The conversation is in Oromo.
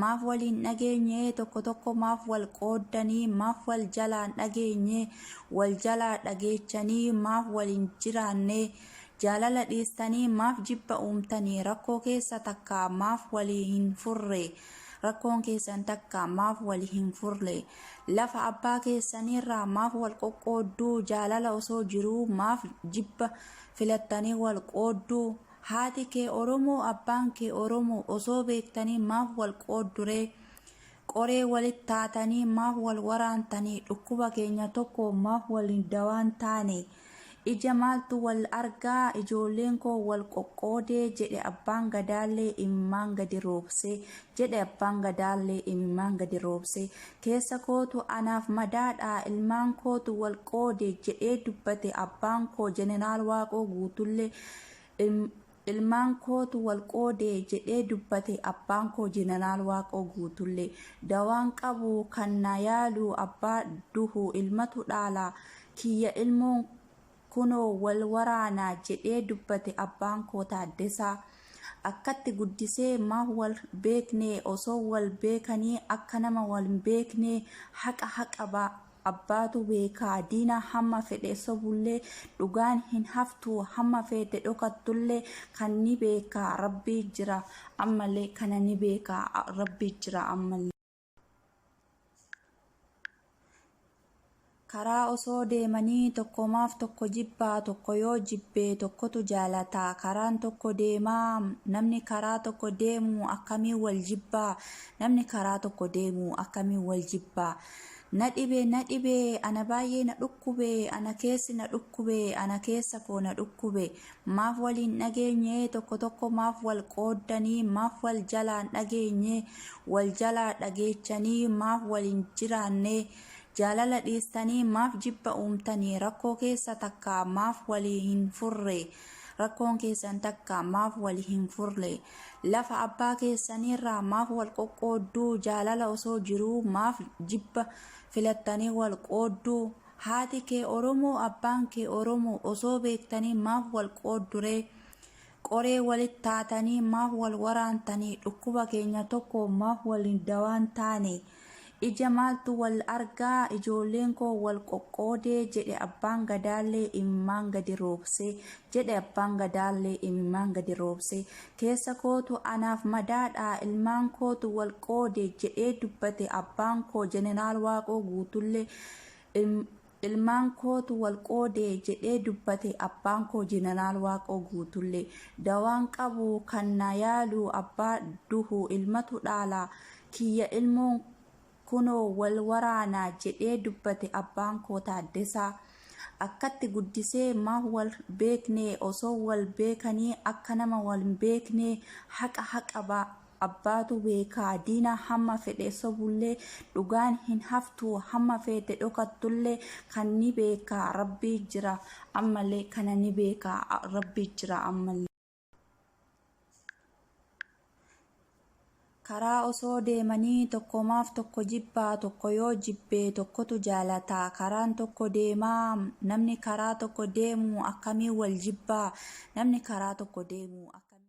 Maaf wal hin dhageenye tokko tokko maaf wal qooddanii maaf wal jalaa hin dhageenye wal jalaa dhageechanii maaf wal hin jiraanne jaalala dhiistanii maaf jibba uumtanii rakkoo keessa takka maaf walii hin furre rakkoon keessan takka maaf walii hin furre lafa abbaa keessaniirraa maaf wal qoqqoodduu jaalala osoo jiruu maaf jibba filattanii wal qoodduu Haati kee Oromoo abbaan kee Oromoo osoo beektanii maaf wal qoodduree? Qoree walit taatanii maaf wal waraantanii? Dhukkuba keenya tokko maaf waliin dawaan taane? Ija maaltu wal argaa ijoolleen koo wal qoqqoodee jedhe abbaan gadaallee imimmaan gadi roobsee jedhe abbaan gadaallee imimmaan gadi roobsee keessa kootu anaaf madaadha ilmaan kootu wal qoode jedhee dubbate abbaan koo jeneraal waaqoo guutullee Ilmaan kootu wal qoode jedhee dubbate abbaan koo Jeneraal Waaqoo Guutullee. Dawaan qabu kan na yaalu abbaa duhu ilmatu dhaala. Kiyya ilmoon kunoo wal waraana jedhee dubbate abbaan koo Taaddasaa. Akkatti guddisee maaf wal beekne osoo wal beekanii akka nama wal hin beeknee haqa haqa Abbaatu beekaa diina hamma fedhe sobullee dhugaan hin haftu hamma feete dhokattullee kan ni beeka rabbii jira ammallee kana ni beeka rabbii jira ammallee. Karaa osoo deemanii tokko maaf tokko jibbaa tokko yoo jibbe tokkotu jaalata karaan tokko deemaa namni karaa tokko deemu akkamiin wal jibbaa namni karaa tokko deemu akkamiin wal jibbaa. Na dhibe na dhibe ana baay'ee na dhukkube ana keessi na dhukkube ana keessa koo na dhukkube maaf wal hin dhageenye tokko tokko maaf wal qooddanii maaf wal jalaan dhageenye wal jalaa dhageechanii maaf wal hin jiraanne jaalala dhiistanii maaf jibba uumtanii rakkoo keessa takka maaf walii hin furre Rakkoon keessan takka maaf wal hin furre? Lafa abbaa keessaniirraa maaf wal qoqqoodduu? Jaalala osoo jiruu maaf jibba filattanii wal qoodduu? Haati kee Oromoo, abbaan kee Oromoo osoo beektanii maaf wal qoodduree? Qoree walit taatanii maaf wal waraantanii? Dhukkuba keenya tokko maaf waliin dawaan taane? Ija maaltu wal argaa ijoolleen koo wal qoqqoodee jedhe abbaan gadaallee imimmaan gadi roobsee jedhe abbaan gadaallee imimmaan gadi roobsee keessa kootu anaaf madaadha ilmaan kootu wal qoode jedhee dubbate abbaan koo jeneraal waaqoo guutullee Ilmaan kootu wal qoode jedhee dubbate abbaan koo Jeneraal Waaqoo Guutullee. Dawaan qabu kan na yaalu abbaa duhu ilmatu dhaala. Kiyya ilmoon kunoo wal waraana jedhee dubbate abbaan koo Taaddasaa. Akkatti guddisee ma wal beekne osoo wal beekanii akka nama wal hin beeknee haqa haqa ba. Abbaatu beekaa diina hamma fedhe sobullee dhugaan hin haftu hamma feete dhokattullee kan ni beeka rabbii jira ammallee kana ni beeka rabbii jira ammallee. Karaa osoo deemanii tokko maaf tokko jibbaa tokko yoo jibbe tokkotu jaalata karaan tokko deemaa namni karaa tokko deemu akkamiin wal jibbaa namni karaa tokko deemu akkamiin.